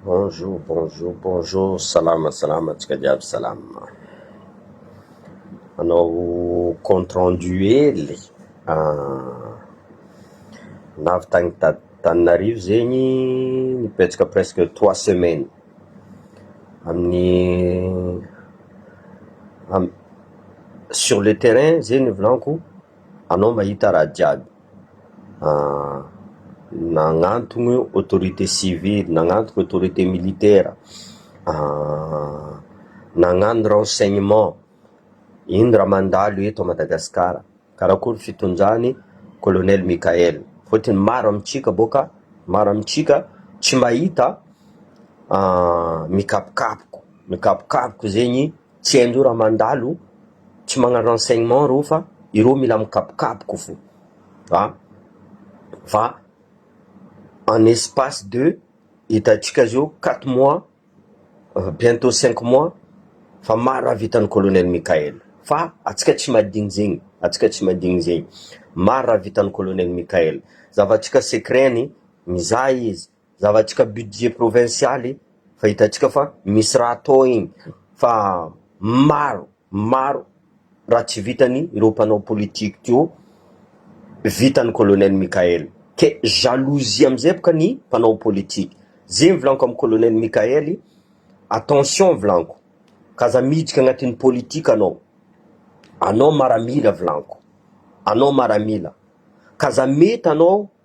Bonjour bonjour bonjour salama salama antsika jiaby salama, hanao compte rendu hely ah, navy tany Tananarivo zegny nibetsaka presque trois semaines amin'ny sur le terrain zegny ny volanko anao mahita raha jiaby. nagnantogno autorité civile, nagnantogno autorité militaire, nagnano renseignement, ino raha mandalo eto à Madagascar, karakory fitondrany colonel Mickaël, fôtony maro amintsika bô ka, maro amintsika tsy mahita mikapokapoko, mikapokapoko zegny. Tsy haindreo raha mandalo, tsy magnana renseignement reo fa ireo mila mikabokaboko fo a! fa en espace de hitantsika zao quatre mois bientot cinq mois fa maro raha vitan'i colonel Mickaël fa antsika tsy madigny zegny, antsika tsy madigny zegny, maro raha vitan'i colonel Mickaël, zava-tsika secret-ny mizaha izy, Zavatsika budget provincialy fa hitantsika fa misy raha atao iny fa maro maro raha tsy vitany ireo mpanao politique teo vitany colonel Mickael ke jalousie amizay boka ny mpanao politique ze mivolaniko am colonel Mickael attention volaniko ka aza miditra agnatin'ny politique anao anao maramila volaniko anao maramila ka aza mety anao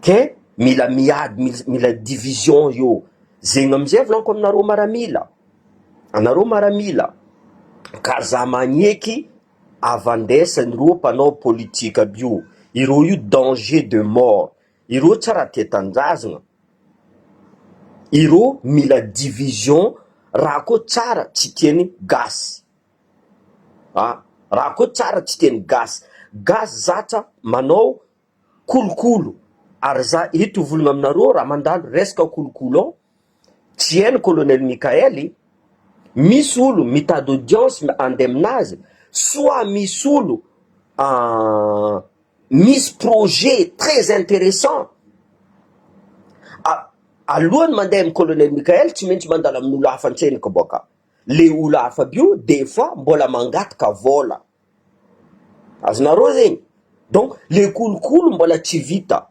Ke mila miady mil mila division eo zegny amizay volaniko aminareo maramila anareo maramila ka za magneky avandesany reo mpanao politika aby io ireo io danger de mort ireo tsy raha tia tanjazgna ireo mila division raha ko tsara tsy tiany gasy ah raha ko tsara tsy tiany gasy gasy zatra manao kolokolo ary za eto hivologna aminareo raha mandalo resaka kolokolo ao, tsy hainy colonel Mickaël e, misy olo mitady audience handeha aminazy soit misy olo misy projet très interessant alohany mandeha amin'i colonel Mickaël tsy maintsy mandalo amin'olo hafa an-tseniko bôka, le olo hafa aby io des fois mbola mangataka vôla. Azonareo zegny? Donc le kolikoly mbola tsy vita,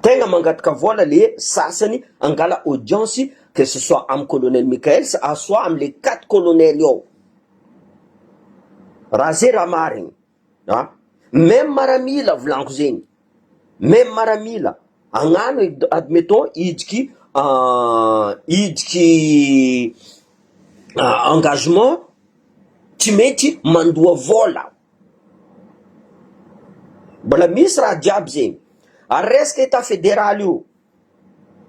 tegna mangataka vôla le sasany angala audience que ce soit am colonel Mickaël sa soit amle quatre colonel ao, raha ze raha marigny a, même maramila volaniko zegny. Même maramila agnano e, admettons hidiky hidiky engagement tsy mety mandoa vola, mbola misy raha jiaby zegny, ary resaka etat federal io,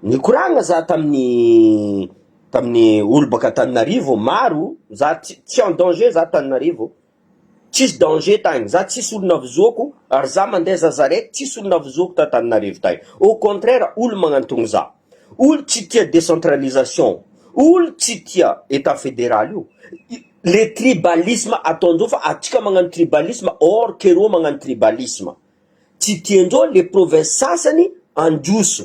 nikoragna za tamin'ny tamin'ny olo baka Antananarivo maro, za tsy tsy en danger za Antananarivo. Tsisy danger tagny za tsisy olo navozoko ary za mandeha za zarety tsisy olo navozoko ta Tananarivo tagny au contraire olo magnantogno za olo tsy tia decentralisation olo tsy tia etat federal io le tribalisme ataonjo fa atsika magnano tribalisme or ke reo magnano tribalisme tsy tianjo le province sasany handroso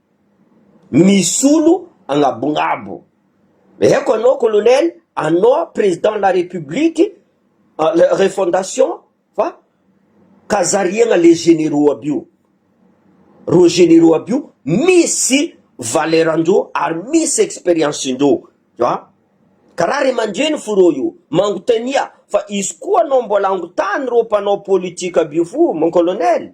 Misolo agnabongabo. Eko anao colonel anao president la republique refondation fa ka zariagna le generaux aby io. Reo generaux aby io misy valeur ndreo ary misy experience ndreo fa ka ra ray aman-dreny fo reo io mangotania fa izy koa anao mbola angotany reo mpanao politique aby io fo mon colonel.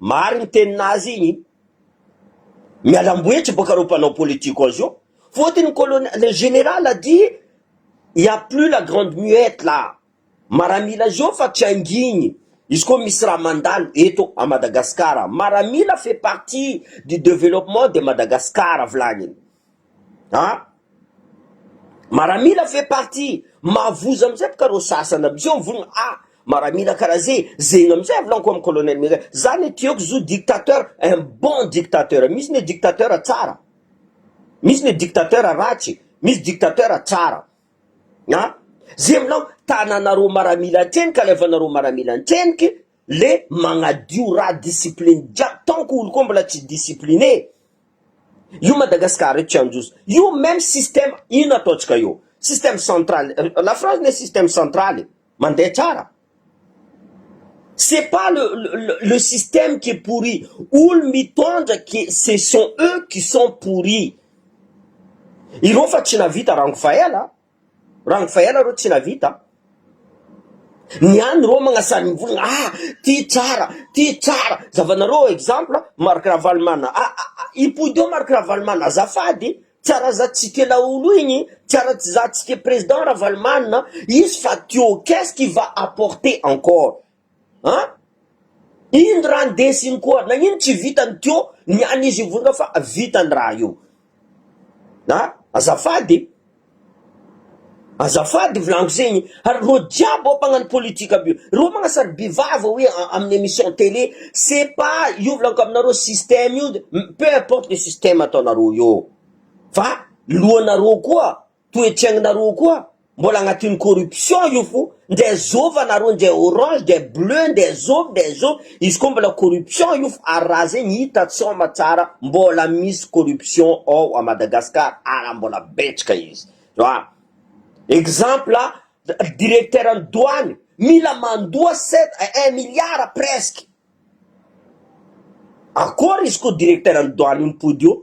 Marigny ny tenin'azy igny, mialamboetry boka reo mpanao politique azy io, fotony ny colonel, le général a dit, il n'y a plus la grande muette là, maramila zao fa tsy angigny, izy koa misy raha mandalo eto à Madagascar, maramila fait partie du developpement de Madagascar, volagniny. Haa maramila fait partie mavozo amizay boka reo sasany amizay ho vonona haa maramila karaha ze zegny amizay avlanko am colonel mega za ne tiako zo dictateur un bon dictateur misy ne dictateur tsara misy ne dictateur ratsy misy dictateur tsara haa ze amlanko tananareo maramila atreny ka alefanareo maramila antrenika le magnadio raha discipline jiaby tant que olo koa mbola tsy discipline io Madagascar eto tsy handroso io meme système ino ataontsika io système central la France ne système central e mandeha tsara c'est pas le le système qui est pourri olo mitondra que ce sont eux qui sont pourri ireo fa tsy nahavita rango fa ela a. Rangovaela reo tsy navita an! Ny any reo magnasarim-bolana ah! ty tsara, ty tsara, zavanareo exemple Marc Ravalomanana ah! ah! hipoidy eo Marc Ravalomanana azafady e! tsara za tsy tia laolo igny, tsara za tsy tia président Ravalomanana, izy fa teo qu'est-ce qui va apporter encore? An! Iny raha ndeso iny koa, nagnino tsy vitany teo ny an'izy vonona fa vita ny raha io? A! Azafady e! Azafady volaniko zegny ary reo jiaby ao mpagnano politika aby io, reo magnasary bevava hoe amin'ny emission télé, c'est pas io volaniko aminareo système io, peu importe le système ataonareo eo fa lohanareo koa. Toe Cheng nareo koa mbola agnatin'ny corruption io fo ndre zova nareo ndre orange ndre bleu ndre zovy ndre zovy izy koa mbola corruption io fo ary raha zegny hita tsy homa tsara mbola misy corruption ao a Madagascar ara mbola betraka izy a exemple directeur ny douane mila mandoa sept un milliard presque akôry izy ko directeur ny douane io mipody eo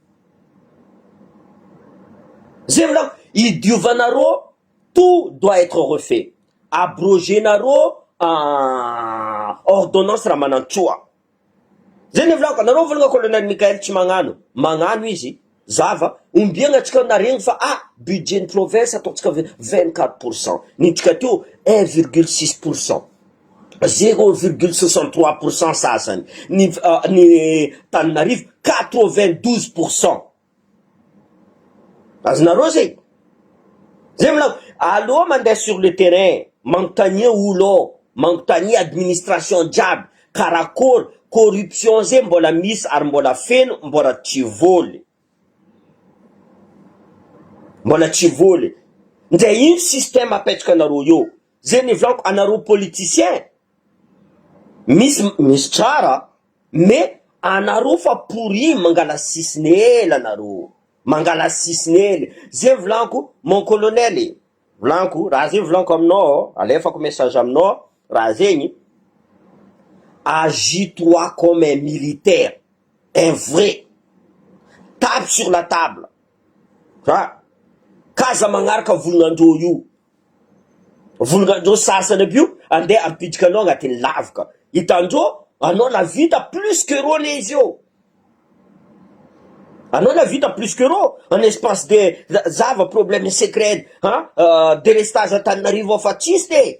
Zay volako, i diovanarô tout doit être refait, abroger-narô ordonnance Ramanantsoa, zay ny volako, anarô volana colonel Mickael tsy magnano, magnano izy, zava, ombiagna atsika naregny fa ah budget ny province ataontsika vingt quatre pour cent, nentsika teo un virgule six pour cent. zero virgule soixante trois pour cent sasany ny ny Tananarivo quatre vingt douze pour cent azonareo zay zay mila aleo mandeha sur le terrain manontania olo ao manontania administration jiaby karakory corruption zay mbola misy ary mbola feno mbola tsy voly. Mbola tsy voly. Nde ino système apetraka anareo eo. Ze nivolako anareo politicien misy misy tsara mais anareo fa pourri mangala sisiny ela anareo mangala sisiny ela ze volako mon colonel e volako raha ze volako aminao alefako message aminao raha zegny agit toi comme un militaire Un vrai. Tape sur la table. Ha. K'aza magnaraka volon'andrô io. Volon'andrô sasany aby io andeha hampitrika anao agnatin'ny lavoka. Hitandrô anao nahavita plus que rô ne izy eo. Anao nahavita plus que rô en espace de zava problème secret ha. Delestage Antananarivo afa tsisy ne.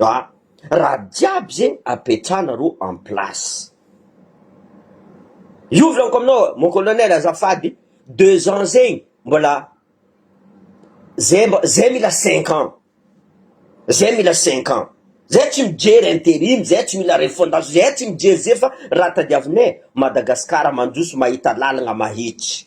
A, raha jiaby zegny apetrahana ro en place. Io volaniko aminao mon colonel azafady deux ans zegny mbola zay mb zay mila cinq ans zay mila cinq ans zay tsy mijery interim zay tsy mila refondation zay tsy mijery zay fa raha tadiavinay Madagascar mandroso mahita lalagna mahitsy.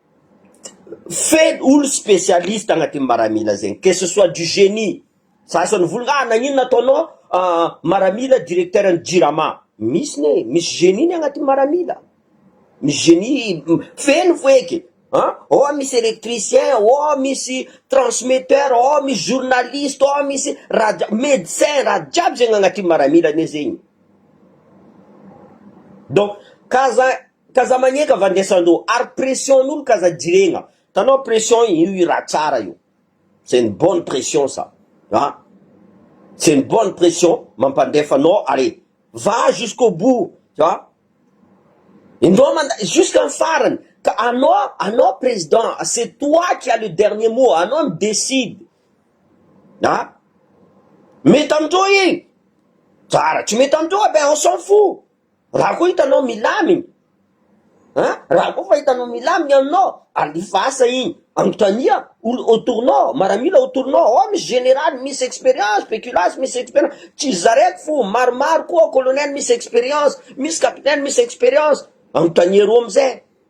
Feno olo spécialiste agnatin'ny maramila zegny que ce soit du génie za zao nivolagna ah nagnino nataonao maramila directeur ny jirama, misy ne misy génie ny agnatin'ny maramila, misy génie feno foeky an, ao misy électricien, ao misy transmetteur, ao misy journaliste, ao misy rad- médecin raha jiaby zegny agnatin'ny maramila anie zegny, donc ka za K'aza magneka va ndray Sandro ary pression n'olo k'aza jiregna, tanao pression io hira tsara io, c'est une bonne pression ça ah, c'est une bonne pression mampandefa anao are, va jusqu'au bout ah, indao manda jusqu'à ny farany, ka anao anao président c'est toi qui as le dernier mot, anao mi décide ah, mety amin'ireo i tsara, tsy mety amin'ireo eh ben on s'en fou. Raha koa hitanao milamigny an! Raha koa fa hitanao milamigny aminao, alefa asa igny, anontania olo autour nao, maramila autour nao, ao misy général misy expérience, pekilasy misy expérience, tsy za raiky fô maromaro koa, colonel misy expérience, misy capitaine misy expérience, anontania reo amizay,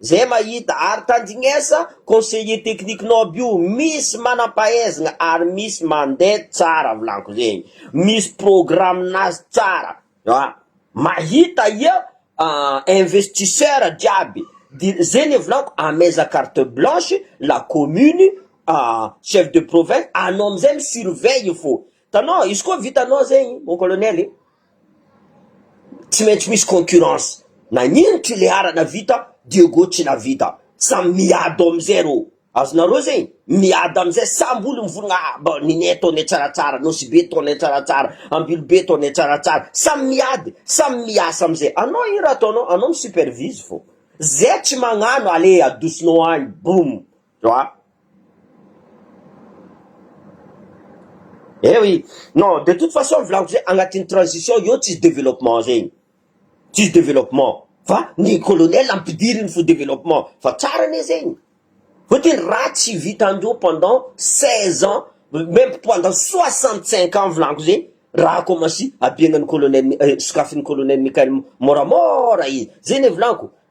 Zay mahita ary tandinesa conseiller technique nao aby io misy manampahaizgna ary misy mande tsara volanko zegny misy programme nazy tsara a mahita ia investisseur jiaby de zegny volanko ameza carte blanche la commune a chef de province anao amizay mi surveille fô tanao izy koa vitanao zegny mon colonel e. Tsy maintsy misy concurrence na ino trileara na vita Diego tsy navita samy miado amizay reo azonareo zegny miady amizay samby olo mivolagna ah ba Ninie tone tsaratsara Nosibe tone tsaratsara Ambilobe tone tsaratsara samy miady samy miasa amizay anao ino raha ataonao anao mi supervise fô zay tsy magnano ale adosonao any boum Oa. Eh oui, non de toute façon volako zay agnatin'ny transition eo tsisy développement zegny, tsisy développement fa ny colonel ampidiriny fo développement fa tsara anie zegny, fotony raha tsy vitandreo pendant seize ans même pendant soixante cinq ans volako zegny raha akômansy abiagnan'ny colonel, sokafin'ny colonel Michael môramôra izy, zay anie volako.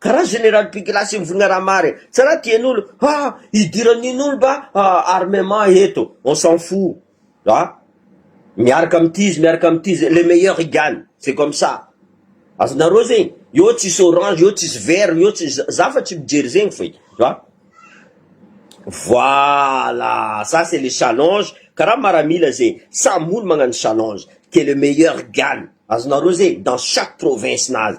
Karaha général pigilasy mivonona raha mary e! Tsy raha tian'olo ha idiran'in'olo mba armement eto, on s'en fou a! Miaraka amin'ity izy miaraka amin'ity izy, le meilleur y gagne, c'est comme ça! Azonareo zegny? Eo tsisy orange, eo tsisy vert, eo tsy za za fa tsy mijery zegny feky a! Voilà! Ça c'est le challenge, karaha maramila zay, samy olo magnano challenge, que le meilleur gagne! Azonareo zegny? Dans chaque province-nazy,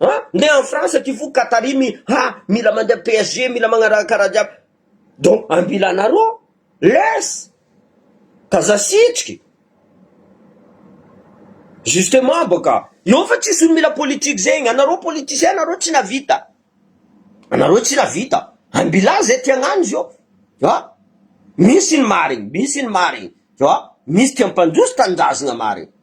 Ha? Ndeha any France ty fo Qatari mi ha mila mandeha PSG mila magnaraka raha jiaby donc ambila anareo ao laisse ka za sitriky justement baka eo fa tsisy olo mila politique zegny anareo politiciens nareo tsy navita anareo tsy navita ambila zay ty agnano izy eo ha misy ny marigny misy ny marigny ha misy ty ampandroso tanindrazagna marigny.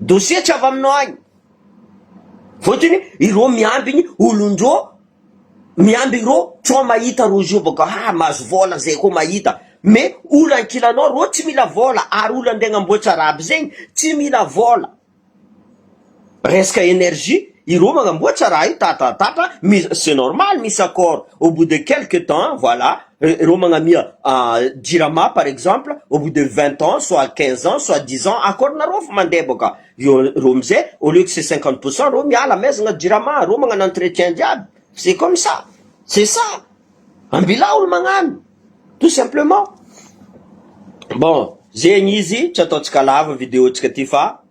Dossier tsy avy aminao agny. Fôtony irô miambigny olon-drô, miamby irô tsao mahita rô zio bôka ha mahazo vôla zay kô mahita. Me olo ankilanao rô tsy mila vôla ary olo andeha agnamboatra raha aby zegny tsy mila vôla. Resaka energie, ireo manamboatra raha io tatatatatra, misy c'est normal misy accord, au bout de quelques temps voilà, ireo magnamia jirama par exemple, au bout de vingt ans soit quinze ans soit dix ans accord nareo efa mandeha boka eo, ireo amizay au lieu que c'est cinquante pour cent ireo miala maizina jirama, ireo magnano entretien jiaby, c'est comme ça, c'est ça, ambilao ny magnano tout simplement, bon zegny izy tsy ataontsika lava video-tsika ty fa.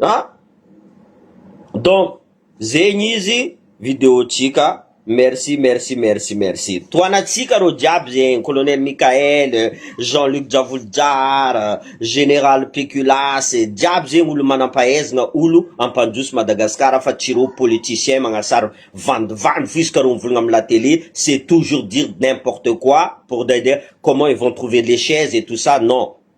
A! Donc zegny izy video tsika merci merci merci merci toanatsika reo jiaby zegny colonel Mickaël, Jean Luc Javolojara, Général Pekulas jiaby zegny olo manampahaizana olo ampandroso Madagascar fa tsy reo politiciens magnasary vandivandy fo isaka reo mivôlagna amina télé c'est toujours dire n'importe quoi pour dire comment ils vont trouver les chaises et tout ça non.